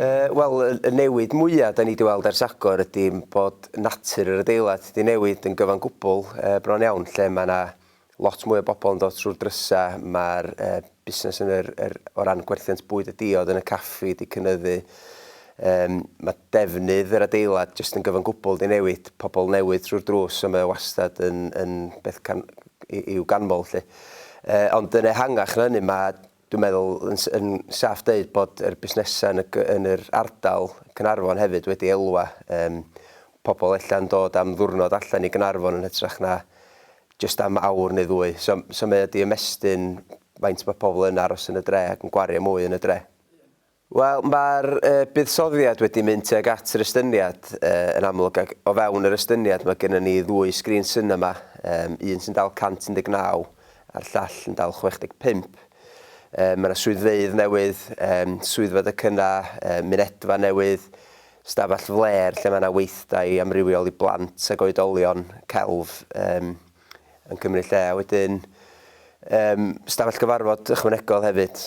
Uh, Wel, y newid mwyaf da ni wedi weld ers agor ydy bod natur yr adeilad wedi newid yn gyfan gwbl uh, bron iawn, lle mae yna lot mwy o bobl yn dod trwy'r drysau, mae'r busnes yn yr, yr, o ran gwerthiant bwyd a diod yn y caffi wedi cynyddu, yym, mae defnydd yr adeilad jyst yn gyfan gwbl wedi newid, pobl newydd trwy'r drws, so mae o wastad yn, yn beth can- i- i'w ganmol 'lly. Yy, ond yn ehangach na hynny, mae Dwi'n meddwl yn yn saff deud bod yr busnesau yn y yn yr ardal Caernarfon hefyd wedi elwa. Yym pobl ella'n dod am ddiwrnod allan i Gaernarfon yn hytrach na jyst am awr neu ddwy. So so mae o 'di ymestyn faint mae pobl yn aros yn y dre ac yn gwario mwy yn y dre. Wel, mae'r buddsoddiad wedi mynd tuag at yr estyniad yn amlwg ac o fewn yr estyniad mae gennym ni ddwy sgrin sinema, un sy'n dal 119 a'r llall yn dal 65. Mae yna swyddfeydd newydd, swyddfa docynnau, mynedfa newydd, stafell flêr lle mae yna weithdai amrywiol i blant ac oedolion, celf yn cymryd lle a wedyn stafell gyfarfod ychwanegol hefyd.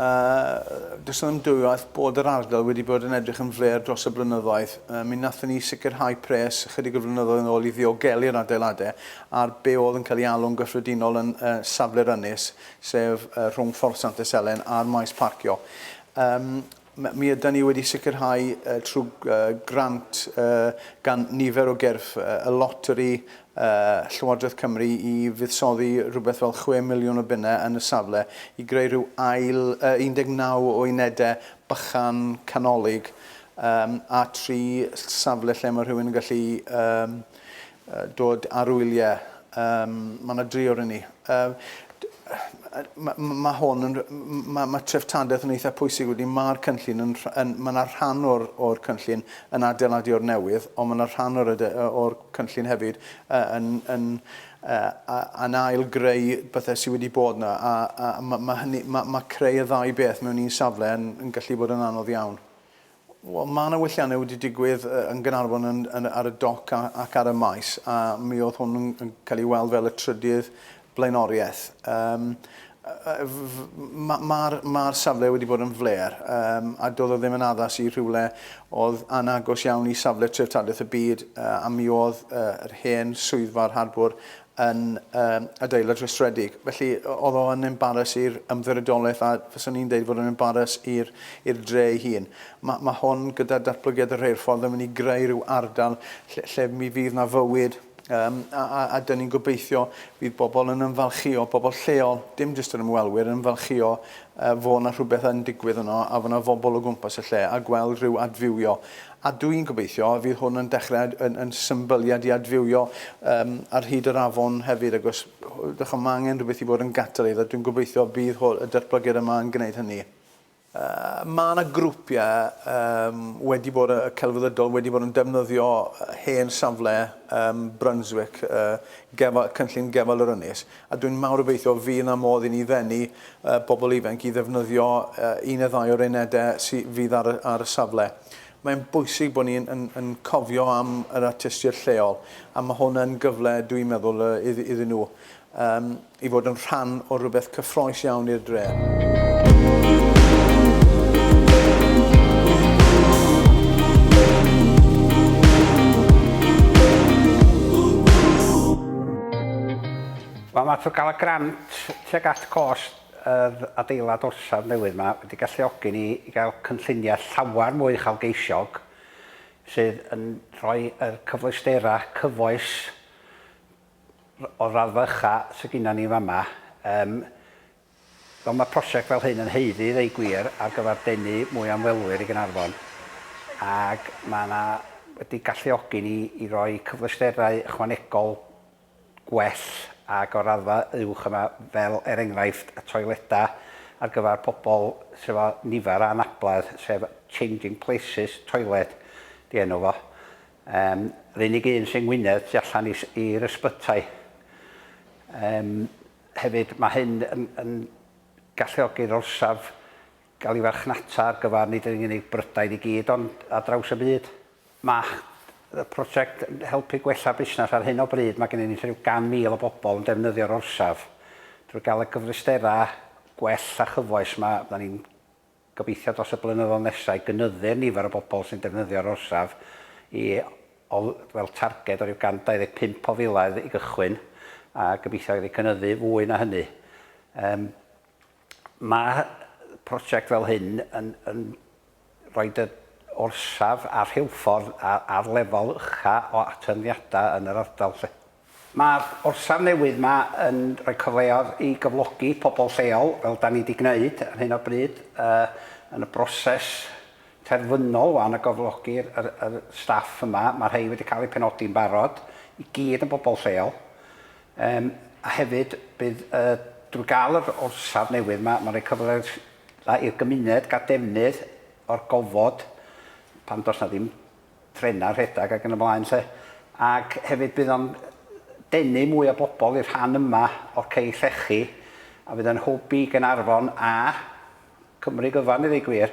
A does yna ymdwywaith bod yr ardal wedi bod yn edrych yn flêr dros y blynyddoedd. Uh, mi nathon ni sicrhau pres ychydig o flynyddoedd yn ôl i ddiogelu'r adeiladau ar be oedd yn cael ei alw'n gyffredinol yn uh, safle'r ynys, sef uh, rhwng Ffordd Sant Yselen a'r maes parcio. Um, Mi ydan ni wedi sicrhau trwy grant gan nifer o gyrff y loteri, Llywodraeth Cymru, i fuddsoddi rhywbeth fel chwe miliwn o bunnau yn y safle i greu rhyw ail 19 o unedau bychan canolig a tri safle lle mae rhywun yn gallu dod ar ŵyl ie yym ma' 'na dri oron ni yy d- ma' ma' ma' hwn yn r- m- ma' ma' treftadaeth yn eitha pwysig wedyn ma'r cynllun yn rh- yn ma' 'na rhan o'r o'r cynllun yn adeiladu o'r newydd on' ma' 'na rhan o'r ade- yy o'r cynllun hefyd yy yn yn yy a- yn ail greu pethe sy wedi bod 'na a a ma' ma' hynny ma' ma' creu y ddau beth mewn un safle yn yn gallu bod yn anodd iawn. Wel, mae 'na welliannau wedi digwydd yn Gaernarfon yn, yn, ar y doc a, ac ar y maes, a mi oedd hwn yn, yn cael ei weld fel y trydydd blaenoriaeth. Um, Mae'r ma, ma safle wedi bod yn fler um, a doedd o ddim yn addas i rhywle oedd anagos iawn i safle treftadaeth y byd uh, a mi oedd uh, yr hen swyddfa'r harbwr yn yr adeilad rhestredig. Felly, oedd o yn embaras i'r ymddiriedolaeth a fyswn i'n dweud fod yn embaras i'r i'r dre ei hun. Mae ma hwn, gyda datblygiad y rheilffordd, yn mynd i greu rhyw ardal lle, lle mi fydd na fywyd Um, a, a, a dyn ni'n gobeithio bydd bobl yn ymfalchio, bobl lleol, dim jyst yr ymwelwyr, yn ymfalchio yy fo' 'na rhywbeth yn digwydd yno a fo' 'na fobl o gwmpas y lle a gweld rhyw adfywio a dw i'n gobeithio y fydd hwn yn dechre yn yn symbyliad i adfywio yym ar hyd yr afon hefyd ac os dych chi'n ma' angen rhywbeth i fod yn gatalydd a dwi'n gobeithio bydd hw- y datblygiad yma yn gwneud hynny. Yy ma' 'na grwpiau yym wedi bod y celfyddydol wedi bod yn defnyddio hen safle yym Brunswick yy gefa- cynllun gefal yr ynys A dwi'n mawr obeithio fydd 'na modd i ni ddenu pobl ifanc i ddefnyddio un neu ddau o'r unedau sy fydd ar y ar y safle. Mae'n bwysig bod ni yn yn yn cofio am yr artistiaid lleol, a ma' hwn yn gyfle, dwi'n meddwl, yy iddyn nhw yym i fod yn rhan o rywbeth cyffrous iawn i'r dre. Wel mae trwy gael y grant tuag at gost yr adeilad orsaf newydd yma wedi galluogi ni i gael cynlluniau llawer mwy uchelgeisiog sydd yn rhoi yr cyfleusterau cyfoes o'r raddfa ucha sydd gennym ni fama. Yym wel mae prosiect fel hyn yn haeddu i ddweud gwir ar gyfer denu mwy o ymwelwyr i Gaernarfon ac mae yna wedi galluogi ni i roi cyfleusterau ychwanegol gwell ac o'r raddfa uwch yma, fel er enghraifft y toiledau ar gyfer pobl sydd efo nifer o anabledd, sef Changing Places Toilet 'di enw fo. Yym, yr unig un sy'n Ngwynedd tu allan i i'r ysbytai. Yym, hefyd mae hyn yn yn galluogi'r orsaf gael ei farchnata ar gyfer nid yn unig Brydain i gyd ond ar draws y byd. Mae y prosiect yn helpu gwella busnes. Ar hyn o bryd mae gennym ni tua 100,000 o bobl yn defnyddio'r orsaf. Drwy gael y cyfleusterau gwell a chyfoes 'ma, fyddan ni'n gobeithio dros y blynyddoedd nesaf i gynyddu'r nifer o bobl sy'n defnyddio'r orsaf i o wel targed o ryw 125 o filoedd i gychwyn a gobeithio iddi cynyddu fwy na hynny. Yym mae prosiect fel hyn yn yn Roedd yr orsaf a'r rheilffordd ar lefel ucha' o atyniadau yn yr ardal 'lly. Mae'r orsaf newydd 'ma yn rhoi cyfleodd i gyflogi pobl lleol, fel 'da ni 'di gwneud ar hyn o bryd, yn y broses terfynol 'wan o gyflogi yr staff yma. Mae rhei wedi cael eu penodi'n barod, i gyd yn bobl lleol. A hefyd, bydd, drwy gael yr orsaf newydd 'ma, mae'n rhoi cyfleodd A i'r gymuned gael defnydd o'r gofod pan does 'na ddim trenau'n rhedeg ac yn y blaen 'lly. Ac hefyd bydd o'n denu mwy o bobl i'r rhan yma o'r cei llechi a fydd yn hwb i Gaernarfon a Cymru gyfan i ddweud gwir.